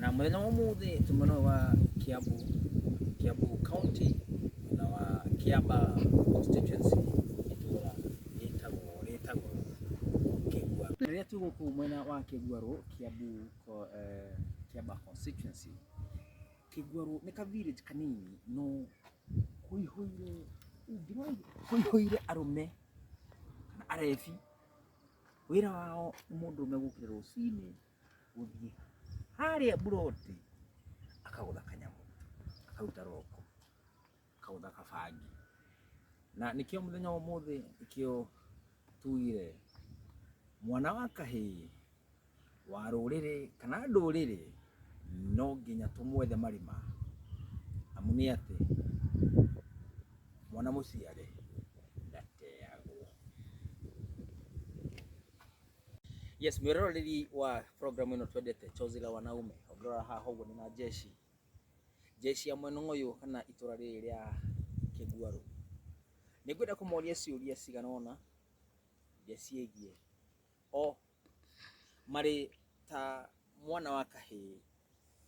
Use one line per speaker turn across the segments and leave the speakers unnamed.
Na mũthenya wa ũmũthĩ twĩ mwena ũyũ wa Kiambu, Kiambu County na wa Kiamba constituency itũra rĩtagwo rĩtagwo Kĩgua. Rĩrĩa twĩ gũkũ mwena wa Kĩguarũ, Kiambu ko- eh, Kiamba constituency, Kĩguarũ nĩ ka village kanini no kũihũire ũngĩrora kũihũire arũme na arebi. Wĩra wao nĩ mũndũrũme gũkĩra rũcinĩ gũthiĩ harĩa mburoti akagũtha kanyamũ akaruta roko akaũtha kabangi na nĩkĩo mũthenya wa ũmũthĩ nĩkĩo tugire mwana wa kahĩ wa rũrĩrĩ kana ndũrĩrĩ no nginya tũmwethe marima amu nĩ atĩ mwana mũciare ndateagwo. Yes, mwiroreri wa program ino twendete chozi la wanaume ongirora haha uguo ni na jeshi jeshi ya mwena uyu kana itura riri ria kiguaru ni ngwenda kumoria ciuria cigana ona iria ciegie o mari ta mwana wa kahii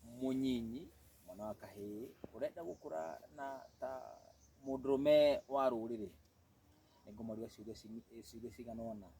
munyinyi mwana wa kahii urenda gukura na ta mundurume wa ruriri ni ngumoria ciuria cini- ciuria cigana ona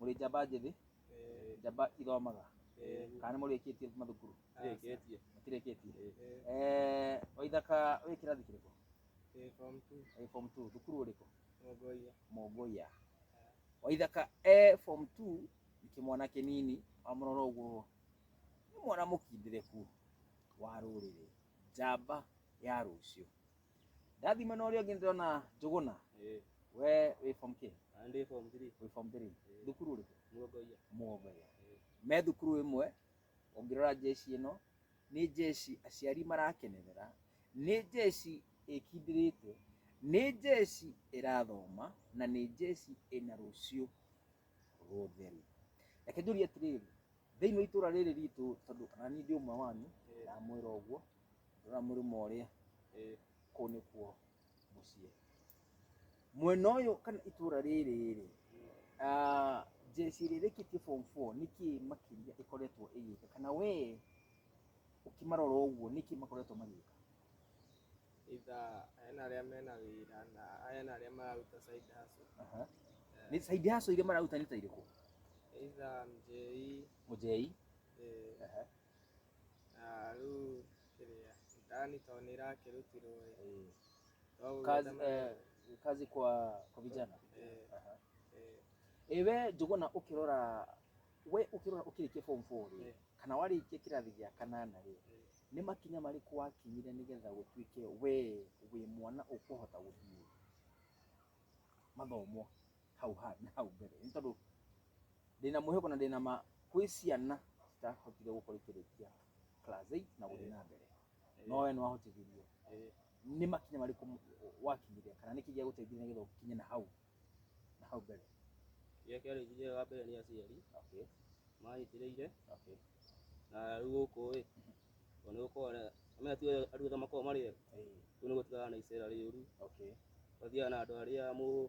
mũrĩ njamba njĩthĩ njamba ithomaga kana nĩ mũrĩkĩtie mathukuru Ndĩkĩtie. mũtirĩkĩtie Eh, waithaka wĩ kĩrathi kĩrĩkũ Ĩ, form two, Wĩ form 2 thukuru ũrĩkũ Mongolia. mongoia waithaka e form 2 nĩ kĩmwana kĩnini wamũrora ũguo nĩ mwana mũkindĩrĩku wa rũrĩrĩ njamba ya rũciũ ndathi mwena ũrĩa ũngĩ ndĩrona njũgũna Eh, we wĩ form kĩ ah, ndĩ form three. wĩ form three Eh. thukuru ũrĩkũ Muongoia. mũgogoya Eh. me thukuru ĩmwe ũngĩrora njeci ĩno nĩ njeci aciari marakenerera nĩ njeci ĩkindĩrĩte nĩ njeci ĩrathoma na nĩ njeci ĩna rũciũ rũtheru reke njũrie atĩrĩrĩ thĩinĩ wa itũra rĩrĩ ritũ tondũ kana niĩ ndĩ ũmwe wanyu Eh. ndamwĩra ũguo rora mũrĩmo ũrĩa eh, kũu nĩkuo mũciĩ mwena ũyũ kana itũra rĩrĩ rĩ ah, jeshi rĩrĩkĩtie form 4 nĩkĩ makĩria ĩkoretwo ĩgĩka kana we ũkĩmarora ũguo nĩkĩ makoretwo magĩka itha aya na arĩa mena wĩra na aya na arĩa mararuta side hustle Aha. nĩ side hustle iria mararuta nĩ ta irĩkũ itha mjei mũjei eh, Aha. Ah, rĩu kĩrĩa mtaani tondũ nĩ ĩrakĩrutirwo ĩ Eh, twaguo kazi, ta mara- eh, kazi kwa kwa vijana eh, Aha. eh, Eh, we njuguna ukirora we ukirora ukirikia form 4 ri Eh. kana warikia kirathi gia kanana ri eh. ni makinya mariku wakinyire nigetha gutuike we wi mwana ukuhota guthie mathomo hau ha- na hau mbere nĩ tondũ ndĩna mwĩhoko na ndĩna ma kwĩ ciana citahotire gũkorwo ikĩrĩkia class 8 na gũthiĩ na mbere no we nĩ wahotithirio Eh, nĩ makinya marĩkũ m- wakinyire kana nĩkĩ gĩa gũteithia nĩgetha ũkinye na hau na hau mbere kĩrĩa kĩarĩ njĩra wa mbere nĩ aciari okay mahĩtĩrĩire okay na rĩu gũkũ ĩ tondũ nĩ gũkorwo na- amenya tu andũ othe makoragwo marĩ ega eh, rĩu nĩ gũtigana na icera rĩũru okay wathiaga na andũ arĩa mũ-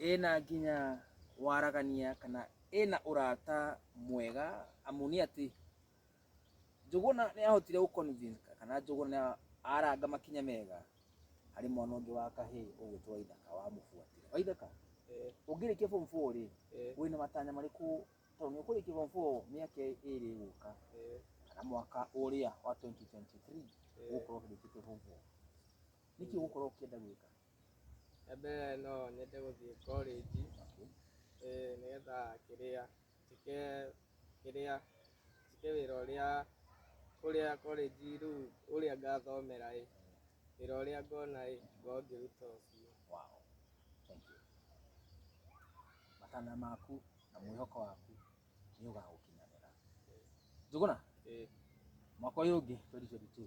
ĩna nginya waragania kana ĩna ũrata mwega amu nĩ atĩ Njũgũna nĩ ahotire gũ convince kana Njũgũna nĩ aranga makinya mega harĩ mwana ũngĩ wa kahĩĩ ũgwĩtwo Waithaka wamũbuatire. Waithaka, ũngĩrĩkia form four rĩ, wĩna matanya marĩkũ tondũ nĩ ũkũrĩkia form four mĩaka ĩrĩ ĩgũka kana mwaka ũrĩa wa 2023 ũgũkorwo ũkĩrĩkĩtie form four? Nĩkĩ ũgũkorwo ũkĩenda gwĩka? Rĩa mbere no nyende gũthiĩ korĩnji, ĩĩ nĩgetha kĩrĩa, njĩke kĩrĩa, njĩke wĩra ũrĩa, ũrĩa korĩnji rĩu ũrĩa ngathomera ĩĩ, wĩra ũrĩa ngona ĩĩ, ngorwo ngĩruta ũcio. Wow. Thank you. Matanya maku na mwĩhoko waku nĩ ũgagũkinyanĩra. Njũgũna, Ĩĩ. mwaka ũyũ ũngĩ 2022,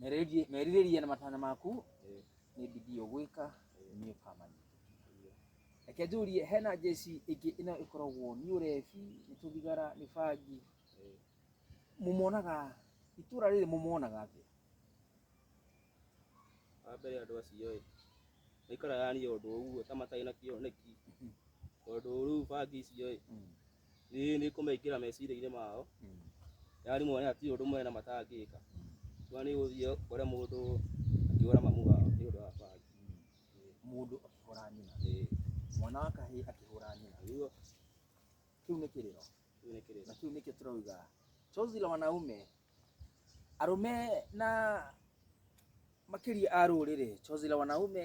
Merirĩrie- merirĩria na matanya maku Ĩĩ. nĩ bidii ũgwĩka nĩ ũkamanya reke njũrie hena njeci ĩngĩ ĩno ĩkoragwo nĩ ũrebi nĩ tũthigara nĩ bangi Ĩĩ. mũmonaga itũra rĩrĩ mũmonaga atĩa wa mbere andũ acio ĩ maikaraga yani ũndũ ũguo ta matarĩ na kĩoneki tondũ rĩu bangi icio ĩ Mm. ĩĩ nĩ kũmekĩra meciria-inĩ mao nĩ arimũ aya ti ũndũ mena matangĩka no nĩ ũthiĩ ũkore mũndũ akĩhũra mamu wao nĩ ũndũ wa bangi mũndũ akĩhũra nyina ĩĩ mwana wa kahĩ akĩhũra nyina nĩguo kĩu nĩ kĩrĩro kĩu nĩ kĩrĩra na kĩu nĩkĩo tũrauga chozi la wanaume arũme na makĩria a rũrĩrĩ chozi la wanaume